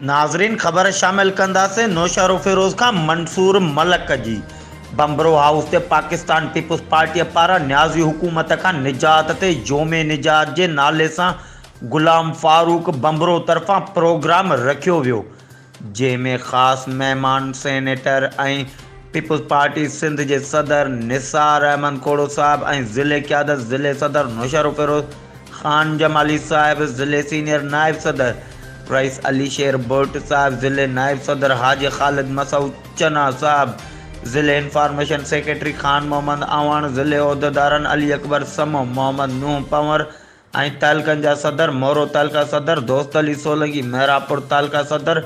ناظرين خبر شامل ڪنداسين نوشهروفيروز کان منصور ملڪ جي بمبرو هائوس تي پاڪستان پيپلز پارٽي پاران نيازي حڪومت کان نجات تي يوم نجات جي نالي سان غلام فاروق بمبرو طرفان پروگرام رکيو ويو جنهن ۾ خاص مهمان سينيٽر ۽ پيپلز پارٽي سنڌ جي صدر نثار احمد کوڙو صاحب ۽ ضلعي قيادت ضلعي صدر نوشهروفيروز خان جمالي صاحب، ضلعي سينيئر نائب صدر رئيس علي شير ڀٽ صاحب، ضلعي نائب صدر حاجي خالد مسعود چنا صاحب، ضلعي انفارميشن سيڪريٽري خان محمد اعواڻ، ضلعي عهديدارن علي اڪبر سمون، محمد نوح پنور، ۽ تعلقن جا صدر، مورو تعلقه صدر، دوست علي سولنگي، محرابپور تعلقه صدر،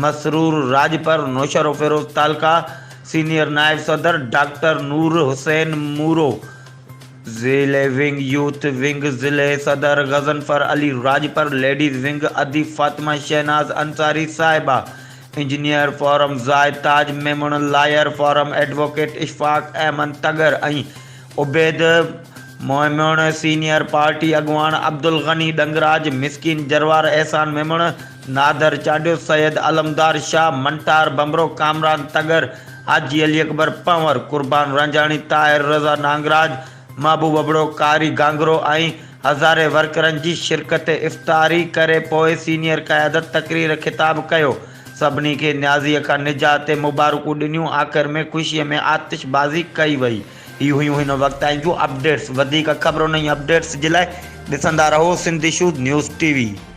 مسرور راڄپر، نوشهروفيروز تعلقه، سينيئر نائب صدر، ڊاڪٽر نور حسين مورو، ضلعي ونگ، يوٿ ونگ، ضلعي صدر، غضنفر علي راڄپر، ليڊيز ونگ، اديب فاطمه شهناز انصاري صاحبه، engineer forum Zahid Taj Memon, lawyer forum advocate Ashfaq Ahmed Tagar ۽ Ubaid Momin, senior party اڳواڻ عبدالغني ڏنگراج، مسڪين جروار احسان ميمڻ، نادر چانڊيو، سيد علمدار شاهه، منٽار ڀنڀرو، ڪامران تڳر، حاجي علي اڪبر پنهور، قربان رانجهاڻي، طاهر رضا نانگراج، محبوب ابڙو، قاري گانگرو ۽ هزارين ورڪرن جي شرڪت افطاري ڪري پوء سينيئر قيادت تقرير خطاب ڪيو سڀني کي نيازيء کان نجات تي مبارڪون ڏنيون آخر ۾ خوشيء ۾ آتش بازي ڪئي وئي. هي هيون هن وقت تائين جون اپڊيٽس وڌيڪ خبرن ۽ اپڊيٽس جي لاء ڏسندا رهو Sindh issues news T V.